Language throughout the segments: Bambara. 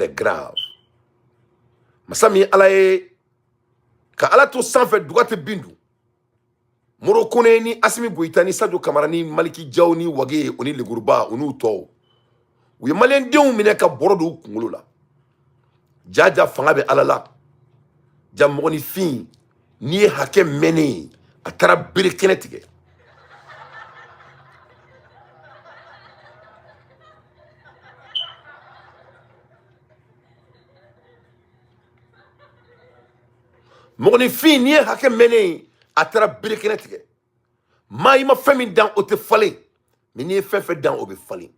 grave masa min ye ala ye ka ala to sanfɛ duga tɛ bin dun moro kone ni asimi goyita ni sajo kamara ni maliki jaw ni wage o ni leguruba o n'u tɔw u ye maliyɛndenw minɛ ka bɔrɔ don u kunkolo la jaja fanga bɛ ala la ja mɔgɔninfin n'i ye hakɛ mɛnnen ye a taara bere kɛnɛ tigɛ mɔgɔninfin n'i ye hakɛ mɛnnen ye a taara bere kɛnɛ tigɛ maa i ma fɛn min dan o tɛ falen mais n'i ye fɛn fɛn dan o bɛ falen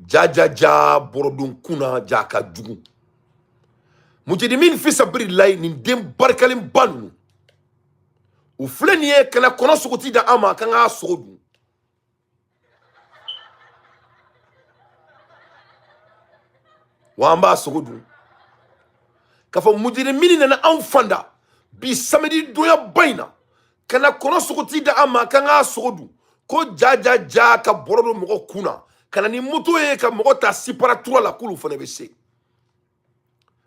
jajaja bɔrɔdon kun na ja ka jugu mujerimin fi sabili layi nin den barikalen ba ninnu u filɛ nin ye kana kɔnɔ sogo ti da an man kan k'a sogo dun wa an b'a sogo dun k'a fɔ mujerimin nana anw fanda bi samedi donya ba in na kana kɔnɔ sogo ti da an man kan k'a sogo dun ko ja ja ja ka bɔrɔ don mɔgɔ kun na ka na ni moto ye ka mɔgɔ ta sipara tura la k'olu fana bɛ se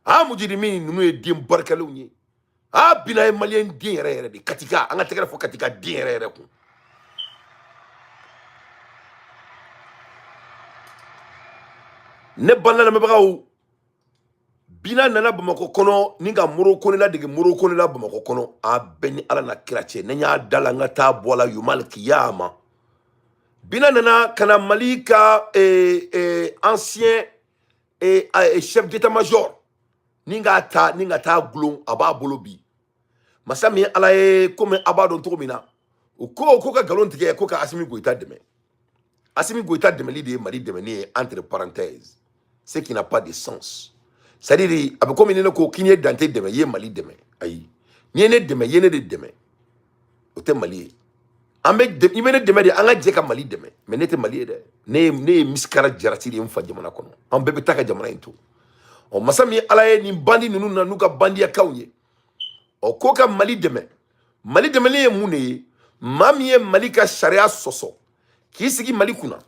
a mujirimi ninnu ye den barikalenw ye a bina ye maliyɛn den yɛrɛ yɛrɛ de katika an ka tɛgɛrɛ fɔ katika den yɛrɛ yɛrɛ kun ne balima lamɛnbagaw bina nana bamakɔ kɔnɔ ni ka moro kone ladege moro kone la bamakɔ kɔnɔ a bɛɛ ni ala n'a kira cɛ ne y'a da la n ka taa bɔ a la yomal kiyama bina nana ka na mali ka eh, eh, ancien eh, eh, chef d'état major ni ka taa ni ka taa gulon a b'a bolo bi masa min ye ala ye komi a b'a dɔn cogo min na o ko ko ka nkalon tigɛ ko ka asimi goyita dɛmɛ asimi goyita dɛmɛli de ye mali dɛmɛni ye entre parenthèse ce qui n'a pas de sens c'est à dire a bɛ komi ni ne ko k'i ye dante dɛmɛ i ye mali dɛmɛ ayi n'i ye ne dɛmɛ i ye ne de dɛmɛ o tɛ mali ye an bɛ dɛ- i bɛ ne dɛmɛ de an ka jɛ ka mali dɛmɛ mais ne tɛ mali ye dɛ ne ye ne ye misikala jarati de ye n fa jamana kɔnɔ an bɛɛ bɛ taa ka jamana in to ɔ masa min ye ala ye nin bandi ninnu na n'u ka bandiyakaw ye ɔ ko ka mali dɛmɛ mali dɛmɛni ye mun de ye maa min ye mali ka sariya sɔsɔ k'i sigi mali kunna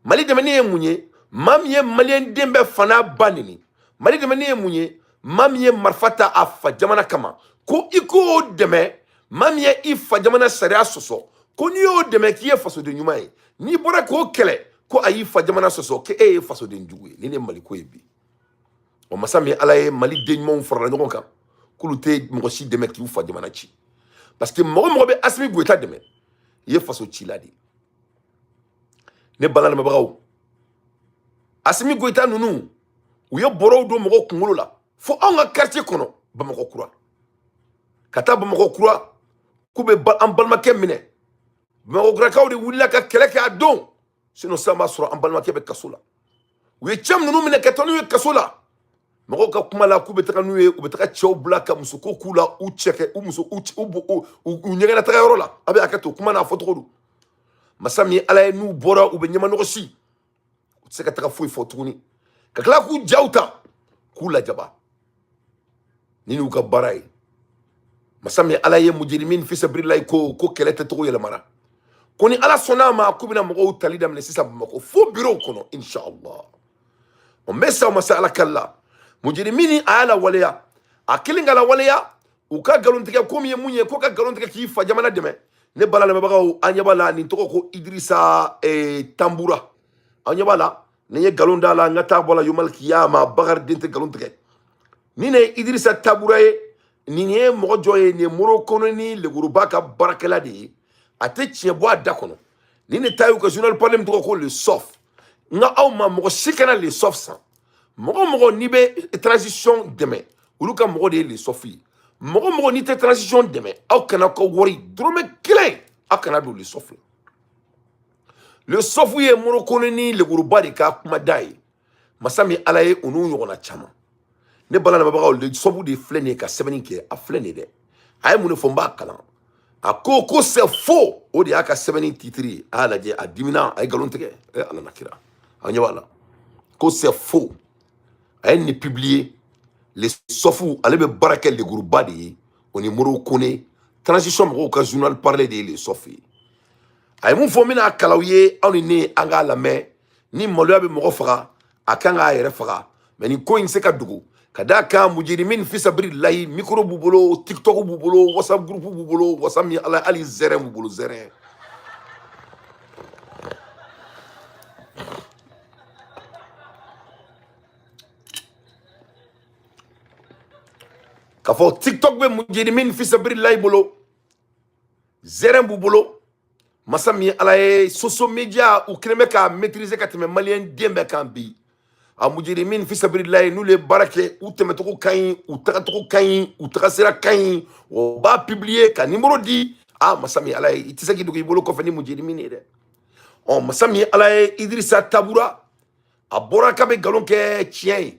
mali dɛmɛni ye mun ye maa min ye maliyɛn den bɛɛ fa n'a ba neni mali dɛmɛni ye mun ye maa min ye marifa ta a fa jamana kama ko i k'o dɛmɛ maa min ye i fa jamana sariya sɔsɔ ko n'i y'o dɛmɛ k'i ye fasoden ɲuman ye n'i bɔra k'o kɛlɛ ko a y'i fa jamana sɔsɔ ko e ye fasoden jugu ye nin de maliko ye bi o masa min ala ye mali den ɲumanw farala ɲɔgɔn kan k'olu tɛ mɔgɔ si dɛmɛ k'u fa jamana ci parce que mɔgɔ o mɔgɔ bɛ asimi goyita dɛmɛ i ye faso cila de ye ne bala lamɛnbagaw asimi goyita ninnu u ye bɔrɔw don mɔgɔw kunkolo la fo anw ka quartier kɔnɔ bamakɔ kura ka taa bamakɔ kura k'u bɛ ba- an balimakɛ minɛ bamakɔkurakaw de wulila ka kɛlɛ kɛ a don sinon sisan b'a sɔrɔ an balimakɛ bɛ kaso la u ye cɛ minnu minɛ ka taa n'u ye kaso la mɔgɔw ka kuma la k'u bɛ taga n'u ye u bɛ taga cɛw bila ka musoko k'u la u cɛ kɛ u muso u u ɲɛgɛnna taga yɔrɔ la a bɛ hakɛ to kuma n'a fɔcogo don masa min ala ye n'u bɔra u bɛ ɲɛmanɔgɔsi u tɛ se ka taga foyi fɔ tuguni ka tila k'u jaw ta k'u lajaba ni n'u ka baara ye masa min ala ye mujirimin fisabirilayi ko ko kɛlɛ kɛcogo yɛlɛmana ko ni ala sɔnna a ma k'u bɛna mɔgɔw tali daminɛ sisan bamakɔ fo birow kɔnɔ inshallah o n bɛ se masa ala kali la mujirimin a y'a lawaleya a kelen ka lawaleya u ka nkalontigɛ ko min ye mun ye ko ka nkalon tigɛ k'i fa jamana dɛmɛ ne bala lamɛnbagaw an ɲɛ b'a la nin tɔgɔ ko idirisa eh, tanbura an ɲɛ b'a la ni n ye nkalon d'a la n ka taa bɔ la yomal kiyama bakari den tɛ nkalon tigɛ nin de ye idirisa tanbura ye nin ye mɔgɔ jɔn ye nin ye moro kone ni leguruba ka baarakɛla de ye a tɛ tiɲɛ bɔ a da kɔnɔ ni ne ta y'u ka journal parlé min tɔgɔ ko le soft n ko aw ma mɔgɔ si kana le soft san mɔgɔ o mɔgɔ n'i bɛ transition dɛmɛ olu ka mɔgɔ de ye le soft ye mɔgɔ o mɔgɔ n'i tɛ transition dɛmɛ aw kan'aw ka wari dɔrɔmɛ kelen aw kan'a don le soft la le soft ye moro kone ni leguruba de ka kuma da ye masa min ala ye u n'u ɲɔgɔnna caman ne bala lamɛnbagaw le soft de filɛ nin ye ka sɛbɛnni kɛ a filɛ nin ye dɛ a ye mun de fɔ n b'a kalan a ko ko c'est faux o de y'a ka sɛbɛnni titiri ye a y'a lajɛ a dimina a ye nkalon tigɛ ɛ ala n'a kira a ɲɛ b'a la ko c'est faux a ye nin publier le soft ale bɛ baara kɛ leguruba de ye o ni moro kone transition mɔgɔw ka journal parlé de ye le soft ye a ye mun fɔ n bɛn'a kalan aw ye aw ni ne an k'a lamɛn ni maloya bɛ mɔgɔ faga a kan k'a yɛrɛ faga mais nin ko in se ka dogo ka d'a kan mujirimin fisabirilayi micro b'u bolo tiktok b'u bolo whatsapp groupe b'u bolo whatsapp min ala hali zɛrɛn b'u bolo zɛrɛn k'a fɔ tiktok bɛ mujirimin fisabirilayi bolo zɛrɛn b'u bolo masa min ala ye social media u kɛlen bɛ k'a maîtriser ka tɛmɛ maliyɛn den bɛɛ kan bi a mujirimin fisabililayi n'olu ye baara kɛ u tɛmɛcogo ka ɲi u tagacogo ka ɲi u tagasira ka ɲi u b'a publier ka nimɔrɔ di a masa min ala ye i tɛ se k'i dogo i bolo kɔfɛ ni mujirimin ye dɛ ɔ masa min ala ye idirisa tanbura a bɔra k'a bɛ nkalon kɛ tiɲɛ ye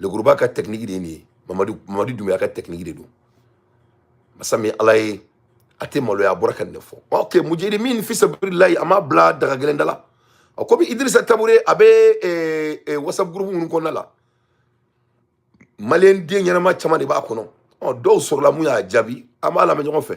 leguruba ka tɛkiniki de ye nin ye mamadu mamadu dumbuya ka tɛkiniki de don masa min ala ye a tɛ maloya a bɔra ka nin de fɔ ok mujirimin fisabililayi a m'a bila daga gɛlɛn da la a komi idirisa tabure a bɛ eh, eh, whatsapp groupe minnu kɔnɔna la maliyɛn den ɲɛnama caman de b'a kɔnɔ ɔ dɔw sɔrɔla min y'a jaabi an b'a lamɛn ɲɔgɔn fɛ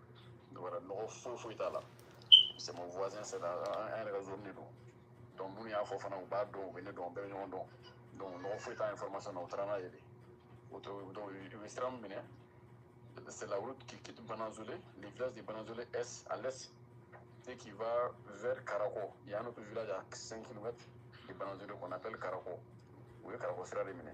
wɛrɛ nɔgɔ foyi foyi t'a la c'est mon voisin c'est la an yɛrɛ ka zone de don donc minnu y'a fɔ fana u b'a dɔn u bɛ ne dɔn u bɛɛ bɛ ɲɔgɔn dɔn donc nɔgɔ foyi t'a information na u taara n'a ye de o to donc u ye sira min minɛ c'est la route qui quitte Bananzole le village de Bananzole est à l'est et qui va vers Karako il y a un autre village à 5 km de Bananzole qu'on appelle Karako u ye Karako sira de minɛ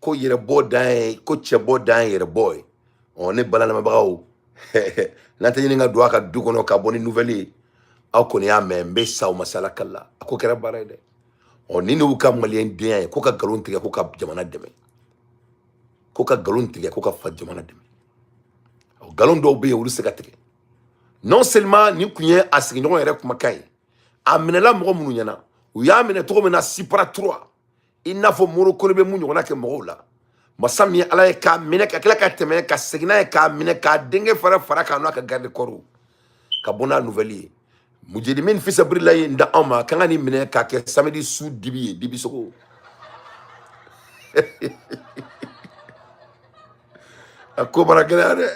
ko yɛrɛbɔ dan ye ko cɛbɔ dan ye yɛrɛbɔ ye ɔ ne baro lamɛnbagaw n'an tɛ ɲini ka don a ka du kɔnɔ ka bɔ ni nouvelle ye aw kɔni y'a mɛn n bɛ sa o masala kala a ko kɛra baara ye dɛ ɔ ni n'u ka maliyɛn denya ye ko ka nkalon tigɛ ko ka jamana dɛmɛ ko ka nkalon tigɛ ko ka fa jamana dɛmɛ ɔ nkalon dɔw bɛ yen olu se ka tigɛ non seulement nin kun ye a sigiɲɔgɔn yɛrɛ kumakan ye a minɛla mɔgɔ minnu ɲɛna u y'a minɛ cogo min na sipara tura i n'a fɔ moro kone bɛ min ɲɔgɔnna kɛ mɔgɔw la masa min ye ala ye k'a minɛ ka tila ka tɛmɛ ka segin n'a ye k'a minɛ k'a denkɛ fara fara a kan n'a ka garde corps ka bɔ n'a nouvelle ye mujirimin fisabililayi ye n da anw ma k'an ka nin minɛ k'a kɛ samedi su dibi ye dibi sogo a ko bara gɛlɛya dɛ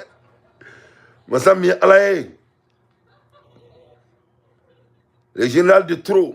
masa min ye ala ye le général de trop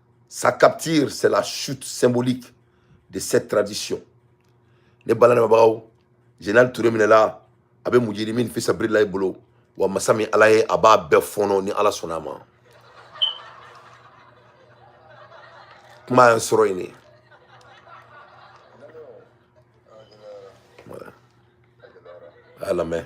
Sa capture, c'est la chute symbolique de cette tradition. Ne baro lamɛnbagaw, général Touré minɛla, a bɛ mujirimin fisabililayi bolo, wa masa min Ala ye a b'a bɛɛ fɔnɔ ni Ala sɔnna a ma. Kuma y'an sɔrɔ yen de. Voilà. A lamɛn.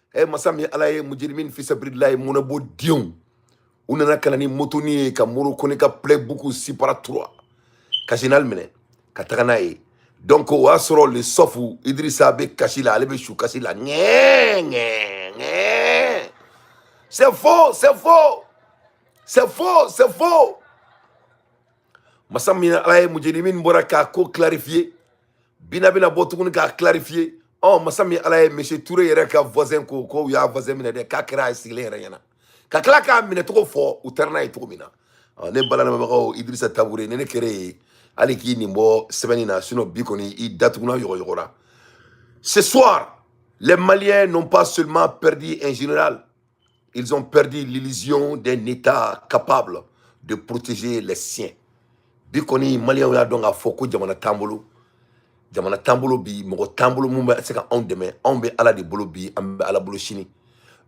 e masa min ala ye mujirimin fisabililayi mɔnɛbɔ denw u nana ka na ni motoni ye ka moro kone ka playbuku sipara tura ka général minɛ ka taga n'a ye donc o y'a sɔrɔ le sɔfu idirisa bɛ kasi la ale bɛ su kasi la ŋɛɛ ŋɛɛ ŋɛɛ c'est faux c'est faux c'est faux c'est faux masa min ala ye mujirimin bɔra k'a ko clarifier bina bɛna bɔ tuguni k'a clarifier ɔ masa min ala ye monsieur ture yɛrɛ ka voisin ko ko u y'a voisin minɛ dɛ k'a kɛra a sigilen yɛrɛ ɲɛna ka tila k'a minɛ cogo fɔ u taara n'a ye cogo min na ne baro lamɛnbagaw idirisa tabure ni ne kɛra e ye hali k'i nin bɔ sɛbɛnni na sinon bi kɔni i datugulan yɔgɔyɔgɔra ce soir les maliens n'ont pas seulement perdu un général Ils ont perdu l'illusion d'un État capable de protéger les siens. bi kɔni maliyɛnw y'a dɔn k'a fɔ ko jamana t'an bolo jamana t'an bolo bi mɔgɔ t'an bolo min bɛ se ka anw dɛmɛ anw bɛ ala de bolo bi an bɛ ala bolo sini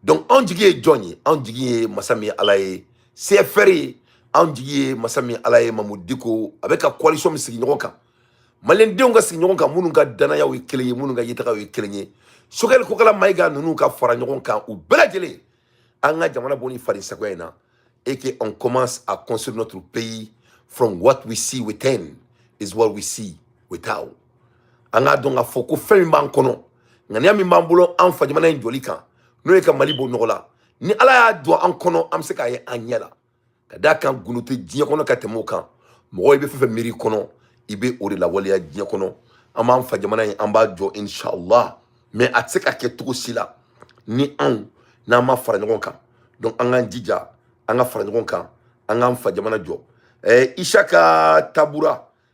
donc anw jigi ye jɔn ye anw jigi ye masa min ye ala ye cfr ye anw jigi ye masa min ye ala ye mamu diko a bɛ ka coalition min sigi ɲɔgɔn kan maliyɛndenw ka sigi ɲɔgɔn kan minnu ka dannayaw ye kelen ye minnu ka ɲɛtagaw ye kelen ye sogɛli kokala mayiga ninnu ka fara ɲɔgɔn kan u bɛɛ lajɛlen an ka jamana bɔ ni farisagoya in na et que on commence à construire notre pays from what we see within is what we see without an k'a dɔn k'a fɔ ko fɛn min b'an kɔnɔ ŋaniya min b'an bolo an fa jamana in jɔli kan n'o ye ka mali bɔ nɔgɔ la ni ala y'a don an kɔnɔ an bɛ se k'a ye an ɲɛ la ka d'a kan gundo tɛ diɲɛ kɔnɔ ka tɛmɛ o kan mɔgɔ i bɛ fɛn fɛn miiri kɔnɔ i bɛ o de lawaleya diɲɛ kɔnɔ an b'an fa jamana in an b'a jɔ inshallah mais a tɛ se ka kɛ cogo si la ni anw n'an ma fara ɲɔgɔn kan donc an k'an jija an ka fara ɲɔgɔn kan an k'an fa jamana jɔ ɛɛ isaka tanbura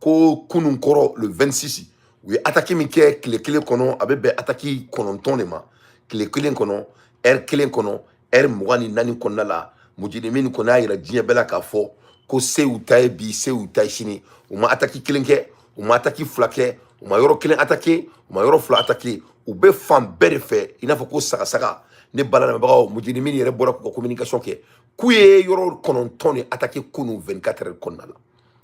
ko kunun kɔrɔ le 26 u ye ataki min kɛ tile kelen kɔnɔ a bɛ bɛn ataki kɔnɔntɔn de ma tile kelen kɔnɔ ɛri kelen kɔnɔ ɛri mugan ni naani kɔnɔna la mujirimi kɔni y'a yira diɲɛ bɛɛ la k'a fɔ ko se u ta ye bi se u ta ye sini u ma ataki kelen kɛ u ma ataki fila kɛ u ma yɔrɔ kelen atake u ma yɔrɔ fila atake u bɛ fan bɛɛ de fɛ i n'a fɔ ko sagasaga ne bala lamɛnbagaw mujirimi yɛrɛ bɔra k'u ka communication kɛ k'u ye yɔrɔ kɔnɔntɔn de atake kunu 24 heures kɔnɔna la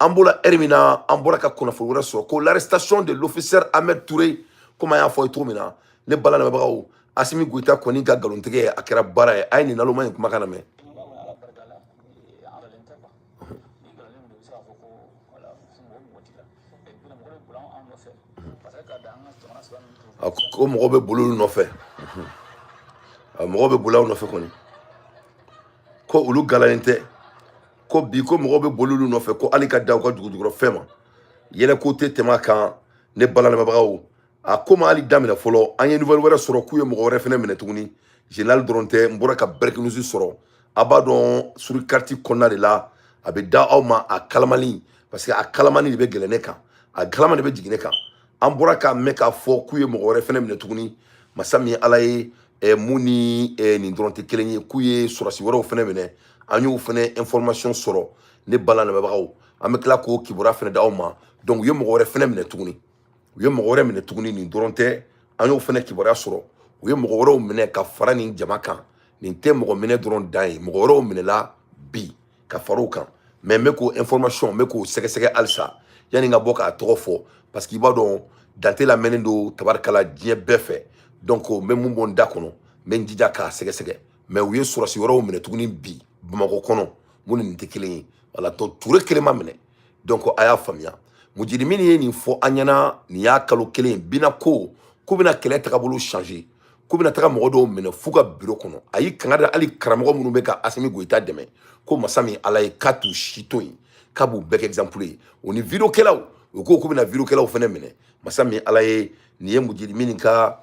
an b'o la ɛri min na an bɔra ka kunnafoni wɛrɛ sɔrɔ ko l'arrestation de l'officier ahmed toure komi an y'a fɔ ye cogo min na ne bala lamɛnbagaw asimi goyita kɔni ka nkalontigɛ a kɛra baara ye a ye nin naloma in kumakan lamɛn ko mɔgɔ bɛ boli olu nɔfɛ mɔgɔ bɛ boli aw nɔfɛ kɔni ko olu galalen tɛ ko bi ko mɔgɔw bɛ boli olu nɔfɛ ko hali ka da u ka dugujukɔrɔfɛn ma yɛlɛko tɛ tɛmɛ a kan ne bala lamɛnbagaw a ko ma hali daminɛ fɔlɔ an ye nouvelle wɛrɛ sɔrɔ k'u ye mɔgɔ wɛrɛ fɛnɛ minɛ tuguni général dɔrɔn tɛ n bɔra ka breaking news sɔrɔ a b'a dɔn suri kariti kɔnɔna de la a bɛ da aw ma a kalamani parce que a kalamani de bɛ yɛlɛn ne kan a kalamani de bɛ jigin ne kan an bɔra k'a mɛn k'a fɔ k'u ye mɔgɔ wɛrɛ fɛnɛ minɛ tuguni masa min ye ala ye ɛ mun ni ɛ nin dɔrɔn tɛ kelen ye k'u ye sɔrɔdasi wɛrɛw fɛnɛ minɛ an y'o fɛnɛ information sɔrɔ ne bala lamɛnbagaw an bɛ tila k'o kibaruya fɛnɛ d'aw ma donc u ye mɔgɔ wɛrɛ fɛnɛ minɛ tuguni u ye mɔgɔ wɛrɛ minɛ tuguni nin dɔrɔn tɛ an y'o fɛnɛ kibaruya sɔrɔ u ye mɔgɔ wɛrɛw minɛ ka fara nin jama kan nin tɛ mɔgɔ minɛ dɔrɔn dan ye mɔgɔ wɛrɛw minɛla bi ka fara o kan mais n bɛ k'o information n bɛ k'o sɛgɛsɛgɛ halisa yanni n ka bɔ k'a tɔgɔ fɔ parce que i b'a dɔn dante lamɛnnen don tabarikala diɲɛ bɛɛ fɛ donc n bɛ mun bɔ n da kɔnɔ n bɛ n jija k'a sɛgɛsɛgɛ mais u ye sɔrɔsi wɛrɛw minɛ tuguni bi bamakɔ kɔnɔ minnu ni nin tɛ kelen ye voilà donc ture kelen ma minɛ donc a y'a faamuya mujirimini ye nin fɔ an ɲɛna nin y'a kalo kelen bina ko k'u bɛna kɛlɛ tagabolo changer k'u bɛna taga mɔgɔ dɔw minɛ f'u ka biro kɔnɔ a y'i kanga da hali karamɔgɔ minnu bɛ ka asimi goyita dɛmɛ ko masa min ala ye k'a t'u si to yen k'a b'u bɛɛ kɛ exemple ye o ni vidéokɛlaw u ko k'u bɛna vidéokɛlaw fɛnɛ minɛ masa min ala ye nin ye mujirimini ka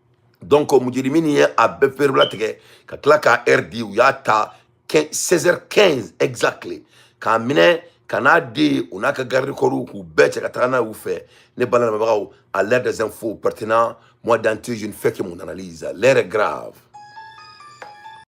donc mujirimini ye a bɛɛ perebula tigɛ ka tila k'a heure di u y'a ta 16 15 exactly k'a minɛ ka n'a di u n'a ka garde corps k'u bɛɛ cɛ ka taga n'a y'u fɛ ne bala lamɛnbagaw à l'air des infos pertinents moi dante je ne fais que mon analyse l'heure est grave